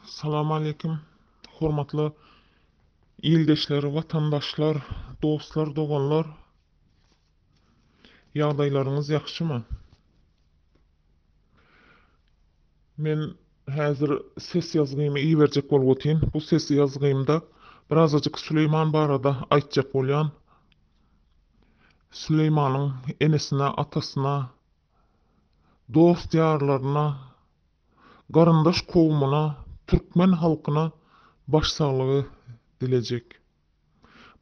Salam aleýkum. Hormatly ildeşler, watandaşlar, dostlar, doganlar. Ýagdaýlaryňyz ýagşymy? Men häzir ses ýazgymy iberjek bolup otyryn. Bu ses ýazgymda birazajyk Süleýman barada aýtjak bolýan. Süleýmanyň enesine, atasyna, dost-ýarlaryna, garyndaş kowumyna, türkmen halkyna baş saglygy dilejek.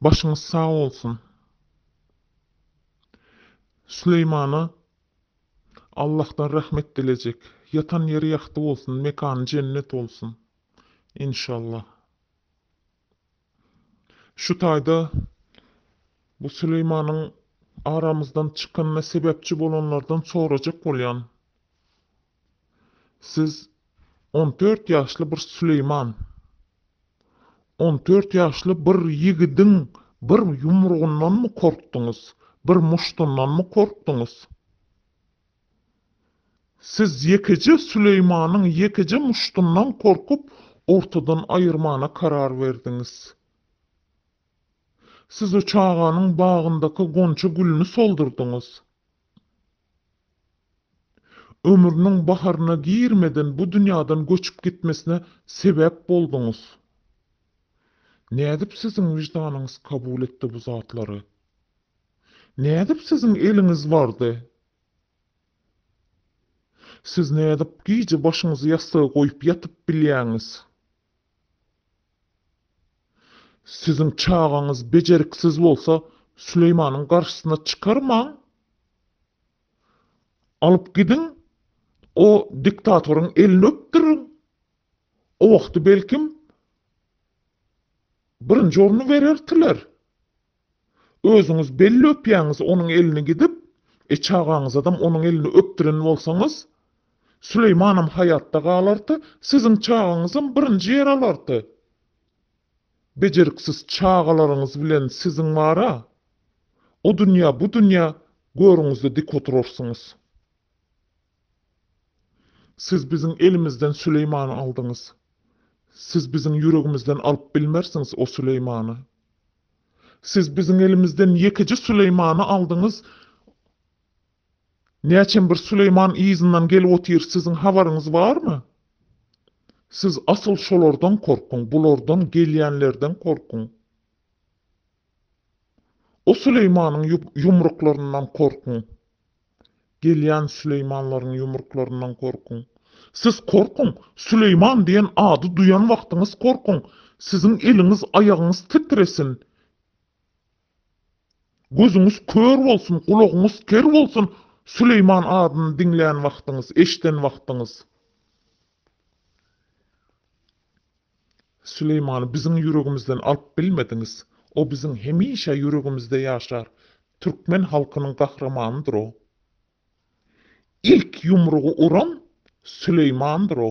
Başyňyz sag bolsun. Süleýmana Allahdan rahmet dilejek. Ýatan ýeri ýagty bolsun, mekany jennet bolsun. Enşallah. Şu taýda bu Süleýmanyň aramyzdan çykanyna sebäpçi bolanlardan sorajak bolýan. Siz on dört ýaşly bir Süleýman. On dört ýaşly bir ýigidiň bir ýumrugyndanmy korkduňyz, bir muşdundanmy korkduňyz? Siz ýekeje Süleýmanyň ýekeje muşdundan korkup, ortadan aýyrmana karar berdiňiz. Siz o çaganyň bagyndaky gonja gülüni soldurdyňyz. Ömrüniň baharyna girmeden bu dünýäden göçüp gitmesine sebäp bolduňyz. Nädip siziň wyždanyňyz kabul etdi bu zatlary? Nädip siziň eliňiz bardy? Siz nädip gije başyňyzy ýassyga goýup ýatyp bilýäňiz? Siziň çagaňyz bejeriksiz bolsa, Süleýmanyň garşysyna çykarmaň. Alyp gidiň, o diktatoryň elini öpdüriň. O wagty belkim, birinji orny berertiler. Özüňiz belli öpýäňiz onuň elini gidip, e çagaňyzadam onuň elini öpdüren bolsaňyz, Süleýmanam haýatda galarty, siziň çagaňyzam birinji ýer alarty. Bejeriksiz çagalaryňyz bilen siziň bar-a, o dünýä, bu dünýä görüňizde dik oturarsyňyz. Siz biziň elimizden Süleýmany aldyňyz. Siz biziň ýüregimizden alyp bilmersiňiz o Süleýmany. Siz biziň elimizden ýekeje Süleýmany aldyňyz. Näçem bir Süleýman yzyndan gelip otyr, siziň habaryňyz barmy? Siz asyl şolardan korkuň, bulardan, gelýänlerden korkuň. O Süleýmanyň ýumruklaryndan korkuň. Gelýän Süleýmanlaryň ýumruklaryndan gorkuň. Siz korkuň! Süleýman diýen ady duýan wagtyňyz korkuň! Siziň eliňiz, aýagyňyz titresin! Gözüňiz kör bolsun, gulagyňyz ker bolsun, Süleýman adyny diňlän wagtyňyz, eşden wagtyňyz! Süleýmany biziň ýüregimizden alyp bilmediňiz. O biziň hemişe ýüregimizde ýaşar. Türkmen halkynyň gahrymanydyr o. Ilk ýumrugy uran Süleýmandyr o.